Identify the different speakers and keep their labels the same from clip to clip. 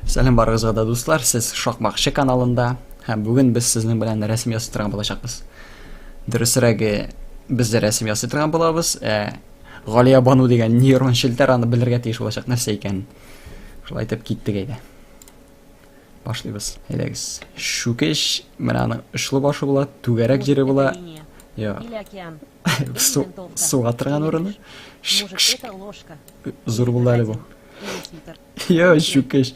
Speaker 1: Сәлам барыгызга да дуслар, сез Шакмакчы каналында һәм бүген без сезнең белән рәсем ясый торган булачакбыз. Дөресрәге, без дә рәсем ясый торган булабыз. Ә Галия Бану дигән нейрон челтәр аны белергә тиеш булачак нәрсә икән. Шулай итеп киттек әйдә. Башлыйбыз. Әйдәгез. Шүкеш, менә аның очлы башы була, түгәрәк җире була. Йо. Су, суга торган урыны. Зур булды әле бу. Йо, чүкеш.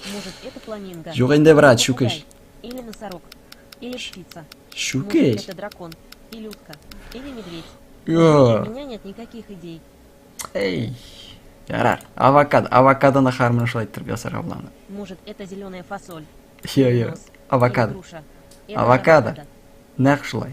Speaker 1: Юк инде, брат, чүкеш. Или носорог,
Speaker 2: или птица. Чүкеш. Это
Speaker 1: дракон,
Speaker 2: или утка, или медведь. Йо. У меня
Speaker 1: нет
Speaker 2: никаких идей. Эй.
Speaker 1: Ярар. Авокадо. Авокадо на хармон шулай иттереп ясарга була аны. Может, это зеленая
Speaker 2: фасоль. Йо, йо.
Speaker 1: Авокадо.
Speaker 2: Авокадо.
Speaker 1: Нәкъ шулай.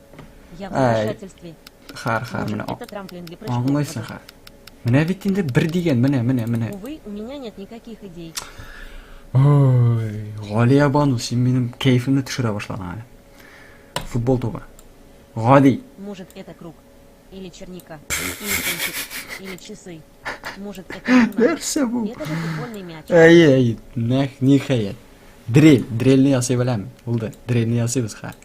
Speaker 2: Ай.
Speaker 1: Хар,
Speaker 2: хар,
Speaker 1: менә. Аңлайсың
Speaker 2: хар.
Speaker 1: Менә бит инде бер дигән, менә, менә, менә. Увы, у меня нет
Speaker 2: никаких идей.
Speaker 1: Ой, Галия Бану, син минем кәефемне төшерә башладың әле. Футбол тубы. Гади. Может, это круг?
Speaker 2: Или черника? Или кончик? Или часы? Может, это Нәрсә бу? Это же футбольный
Speaker 1: мяч.
Speaker 2: Әйе, әйе.
Speaker 1: Нәх, нихәят. Дрель, дрельне ясый беләм. Булды. Дрельне ясыйбыз хәзер.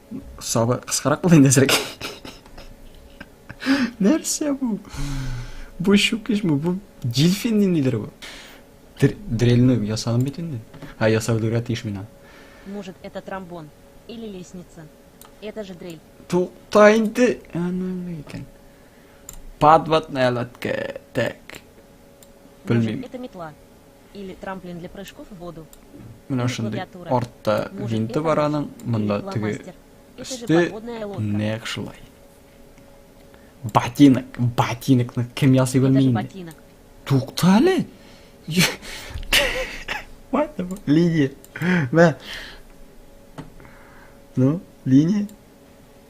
Speaker 1: Сабы кыскарак булды инде әзрәк. Нәрсә бу? Бу шукешме? Бу дельфин ниндидер бу? Дрельны ясадым бит инде. А ясау дөрә тиеш мина. Может, это
Speaker 2: тромбон или лестница? Это же дрель. Тукта
Speaker 1: инде. Аны икән. Подводная лодка. Так.
Speaker 2: Белмим. Это метла. Или трамплин для прыжков в воду. Менә шундый
Speaker 1: артта винты бар аның, монда теге
Speaker 2: өсте нәкъ шулай.
Speaker 1: Ботинок, ботинокны кем ясый белми инде. Тукта
Speaker 2: әле.
Speaker 1: Линия. Мә. Ну, линия.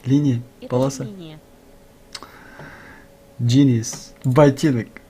Speaker 1: Линия,
Speaker 2: полоса.
Speaker 1: Genius. Ботинок.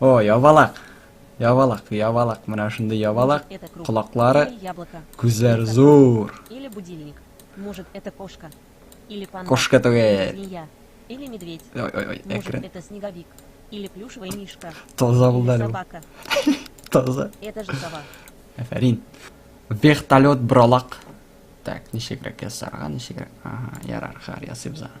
Speaker 1: О, ябалак. Ябалак, ябалак. Менә шундый ябалак. Колаклары, күзләр
Speaker 2: зур.
Speaker 1: Или будильник.
Speaker 2: Может, это кошка. Или панда. Кошка түгел. Змея.
Speaker 1: Или
Speaker 2: медведь. Ой, ой, ой, Может, экран.
Speaker 1: это снеговик.
Speaker 2: Или плюшевая мишка. Таза булды әле.
Speaker 1: Собака.
Speaker 2: Таза.
Speaker 1: Это же сова.
Speaker 2: Афәрин.
Speaker 1: Вертолет бралак. Так, ничегрәк ясарга, ничегрәк. Ага, ярар, хар ясыйбыз аны.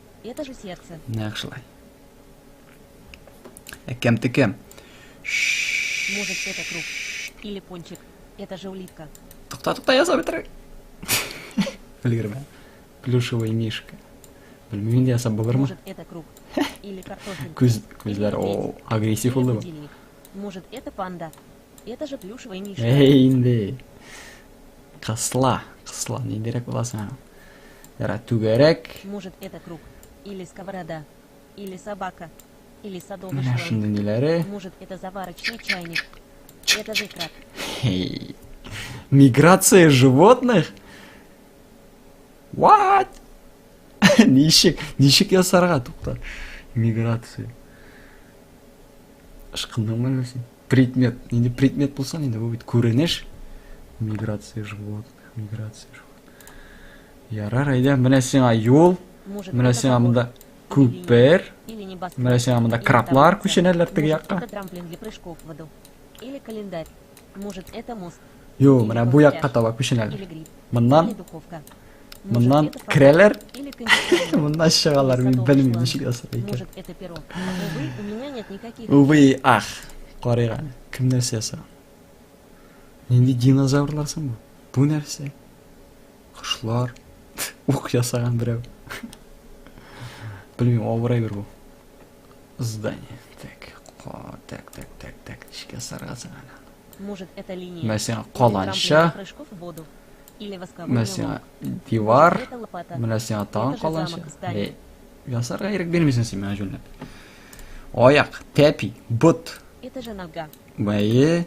Speaker 1: Это
Speaker 2: же сердце. Нәкъ шулай.
Speaker 1: Ә кем ты кем?
Speaker 2: Может, это круг. Или пончик. Это же улитка. Тукта, тукта, я сам
Speaker 1: трек. Өлгермә. Плюшевый мишка. Белмеймін де асап болар ма? Может, это круг.
Speaker 2: Или картофель. Күз, күзләр, о,
Speaker 1: агрессив болды ма? Может,
Speaker 2: это панда. Это же плюшевый мишка. Эй, инде.
Speaker 1: Кысла, кысла, ниндирәк була соң? Яра түгәрәк. Может, это круг
Speaker 2: или сковорода, или собака, или садовый Менә шундый ниләре. Может,
Speaker 1: это заварочный
Speaker 2: чайник. Это же краб. Эй.
Speaker 1: Миграция животных? What? ничек, ничек ясарга туктар? Миграция. Ышкындыңмы әллә син? Предмет. Инде предмет булса, инде бу бит күренеш. Миграция живот, миграция живот. Ярар, әйдә, менә сиңа юл, менә сиңа
Speaker 2: монда күпер,
Speaker 1: менә
Speaker 2: сиңа монда краплар
Speaker 1: күченәләр
Speaker 2: теге
Speaker 1: якка.
Speaker 2: Или календарь. Может, это мост. Ю, менә бу
Speaker 1: якка таба күченәләр. Моннан
Speaker 2: Моннан керәләр. Моннан чыгалар, мин
Speaker 1: белмим ничек ясар
Speaker 2: икән. Увы, ах.
Speaker 1: Карыйга, кем нәрсә яса? Нинди динозаврлар соң бу? Бу нәрсә? Кошлар. Ук ясаган берәү. Белмим, авырай бер бу. Здание. Так, так, так, так, так, ничек ясарга соң аны?
Speaker 2: Мәсәлән, каланча, мәсәлән,
Speaker 1: дивар, менә
Speaker 2: сиңа тагын каланча. Әй, ясарга ирек
Speaker 1: бирмисең син миңа җүнләп. Аяк, тәпи, бот. Это же нога.
Speaker 2: Бәе.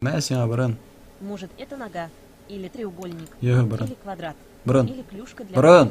Speaker 1: Менә сиңа борын. Может, это
Speaker 2: нога или треугольник, Йо, борын. или квадрат,
Speaker 1: Борын.
Speaker 2: или клюшка
Speaker 1: для Борын.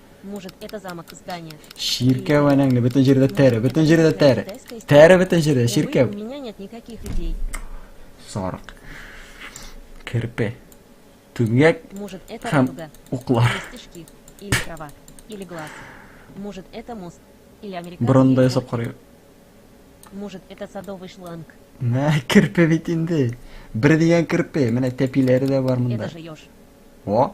Speaker 1: Может,
Speaker 2: это замок, здание. Чиркәү әнәңне
Speaker 1: бөтен җирдә тәре, бөтен җирдә тәре. Тәре бөтен
Speaker 2: җирдә, чиркәү.
Speaker 1: У меня нет
Speaker 2: никаких идей. Сарык.
Speaker 1: Керпе. Түмгәк. Может, это һәм
Speaker 2: уклар. Стежки или трава или глаз. Может, это мост или американский. Бронда ясап карый.
Speaker 1: Может,
Speaker 2: это садовый шланг. Мә, керпе
Speaker 1: бит инде. Бер дигән керпе. Менә тәпиләре дә бар монда. Это же
Speaker 2: ёж. О,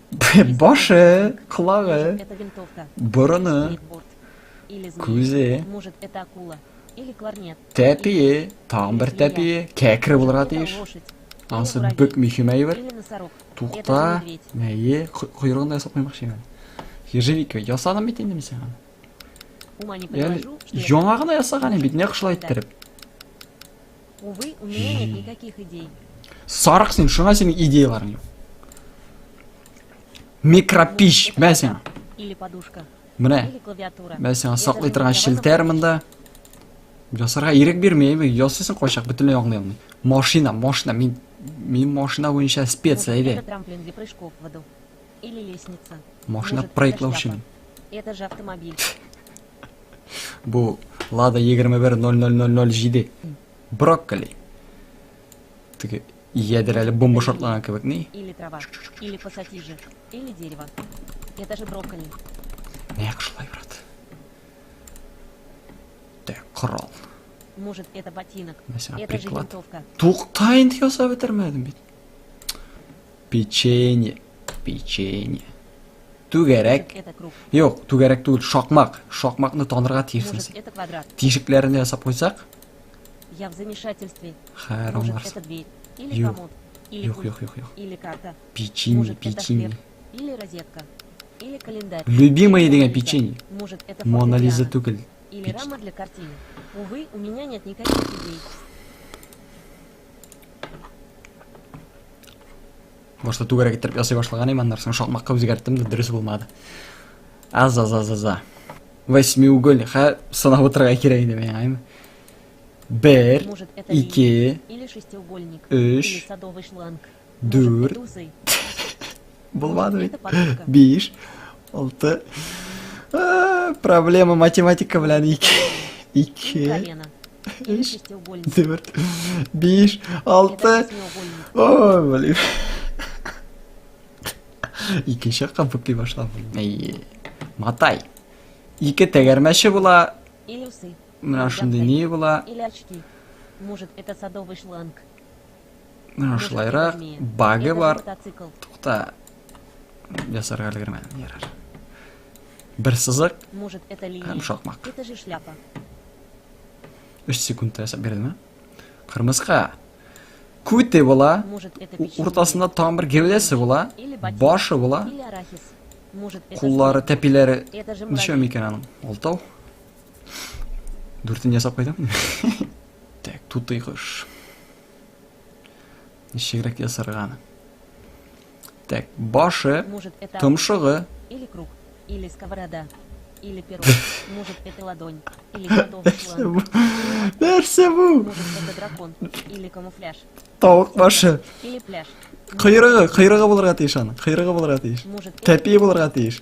Speaker 2: Башы,
Speaker 1: кулагы,
Speaker 2: борыны, күзе, тәпие,
Speaker 1: тагын бер тәпие, кәкре булырга тиеш. Ансы
Speaker 2: бик
Speaker 1: мөһим әйбер. Тукта,
Speaker 2: мәйе, койрыгын
Speaker 1: да ясап куймакчы мен. Ежевика ясадым бит инде мин сиңа. Яңа
Speaker 2: гына ясаган бит, нәкъ
Speaker 1: шулай иттереп.
Speaker 2: Увы, у меня нет никаких идей. Сарык син,
Speaker 1: шуңа синең идеяларың юк. Микропиш, мә сиңа. Или подушка.
Speaker 2: Менә. Или клавиатура.
Speaker 1: Мә
Speaker 2: сиңа саклый торган
Speaker 1: челтәр монда. Ясарга ирек бирмәйме? Ясыйсың кайчак бөтенләй аңлый алмый. Машина, машина, мин мин машина буенча спец, әйдә.
Speaker 2: Машина прыгыклаучы. Это
Speaker 1: же
Speaker 2: автомобиль.
Speaker 1: Бу Лада 21.00.07. Брокколи. Теге ядер әле бомба шартлаган кебек ни? Или трава, или
Speaker 2: пассатижи, или дерево. Это же брокколи. Нәк
Speaker 1: шулай, брат. Так, корал. Может, это
Speaker 2: ботинок. Это же винтовка. Туктайын ясап
Speaker 1: бетермәдем бит. Печенье. Печенье. Түгәрәк. Юк,
Speaker 2: түгәрәк түгел,
Speaker 1: шакмак. Шакмакны танырга тиешсез. Тишекләрен
Speaker 2: ясап куйсак.
Speaker 1: Я в
Speaker 2: замешательстве. Харамар.
Speaker 1: Юк.
Speaker 2: Юк,
Speaker 1: юк,
Speaker 2: юк, юк. Печенье, печенье. Или
Speaker 1: розетка.
Speaker 2: Или
Speaker 1: календарь.
Speaker 2: Любимые дигән печенье. Может,
Speaker 1: это
Speaker 2: Мона Лиза түгел. Или рама для картины. Увы, у меня нет никаких идей.
Speaker 1: башта түгәрәк иттереп ясый башлаган идем аннары соң шалмакка үзгәрттем дә дөрес булмады аз аз аз аз восьмиуголь хә сынап утырырга кирәк иде миңа әйме бер ике
Speaker 2: өч Дүрт.
Speaker 1: Булмады бит. Биш. Алты. Проблема математика белән ике. Ике. Биш. Дүрт. Биш. Алты. Ой,
Speaker 2: блин.
Speaker 1: Икенче якка бүкли башлап. Әйе. Матай. Ике тәгәрмәче була.
Speaker 2: Менә шундый не
Speaker 1: була.
Speaker 2: Может, это садовый шланг.
Speaker 1: Менә шулайрак
Speaker 2: багы бар. Тукта.
Speaker 1: Ясарга өлгермә. Ярар. Бер сызык. Может, это линия? Һәм
Speaker 2: шакмак. Это же
Speaker 1: шляпа. 3 секундта ясап бирдем, ә? Кырмыска. Күте була. Уртасында
Speaker 2: там бер гәүдәсе
Speaker 1: була. Башы була.
Speaker 2: Куллары, тәпиләре. Ничә
Speaker 1: микән
Speaker 2: аның?
Speaker 1: Алтау. Дүртен ясап кайтам. Так, тутый кош. Ничегрәк ясарган. Так, башы, томшыгы.
Speaker 2: Или
Speaker 1: круг,
Speaker 2: или сковорода, или перо. Может, это ладонь, или готовый план. Нәрсә
Speaker 1: бу? Может, это дракон,
Speaker 2: или камуфляж. Тавык башы.
Speaker 1: Или пляж.
Speaker 2: Кыйрыгы, кыйрыгы
Speaker 1: булырга тиеш аның. Кыйрыгы булырга тиеш. Тәпие булырга
Speaker 2: тиеш.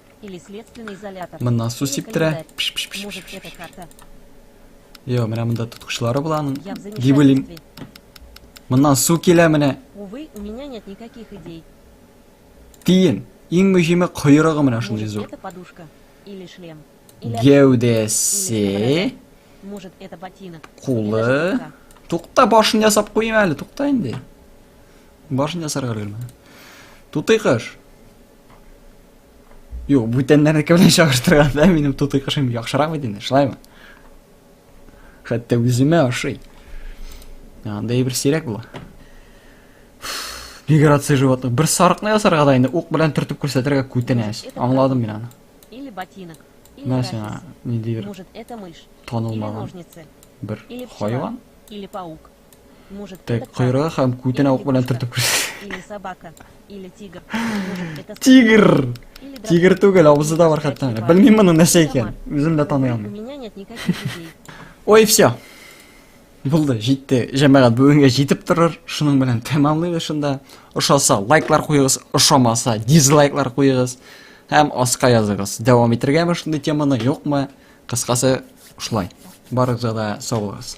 Speaker 2: Моннан су сиптерә. Йо,
Speaker 1: менә монда тоткычлары була аның. Дип уйлыйм.
Speaker 2: Моннан
Speaker 1: су килә менә. Увы, у меня нет
Speaker 2: никаких идей. Тиен.
Speaker 1: Иң мөһиме койрыгы менә шундый зур. Это подушка
Speaker 2: или шлем. Гәүдәсе.
Speaker 1: Может,
Speaker 2: это ботинок. Кулы. Тукта башын
Speaker 1: ясап куйма әле, тукта инде. Башын ясарга өлгермә. Тутый кыш. Юк, бүтәннәрнеке белән чагыштырганда минем тутый кышым яхшырак бит инде, шулаймы? Хәтта үземә ошый. Андай бер сирәк була. Миграция животных. Бер сарыкны ясарга да инде ук белән төртеп күрсәтергә күтенәс. Аңладым мин аны. Или ботинок.
Speaker 2: Менә сиңа ниндидер танылмаган
Speaker 1: бер хайван.
Speaker 2: Или паук. Так, койрыгы һәм
Speaker 1: күтенә
Speaker 2: ук
Speaker 1: белән
Speaker 2: төртеп
Speaker 1: күрсәтә.
Speaker 2: Тигр!
Speaker 1: Тигр
Speaker 2: түгел, авызы да бар
Speaker 1: хәтта. Белмим моның
Speaker 2: нәрсә
Speaker 1: икән. Үзем дә таный алмыйм.
Speaker 2: Ой, все.
Speaker 1: Булды, җитте. Җәмәгать бүгенгә җитеп торыр. Шуның белән тәмамлыйбыз шунда. Ошаса, лайклар куегыз, ошамаса, дизлайклар куегыз һәм аска языгыз. Дәвам итергәме шундый теманы, юкмы? Кыскасы, шулай. Барыгызга да сау булыгыз.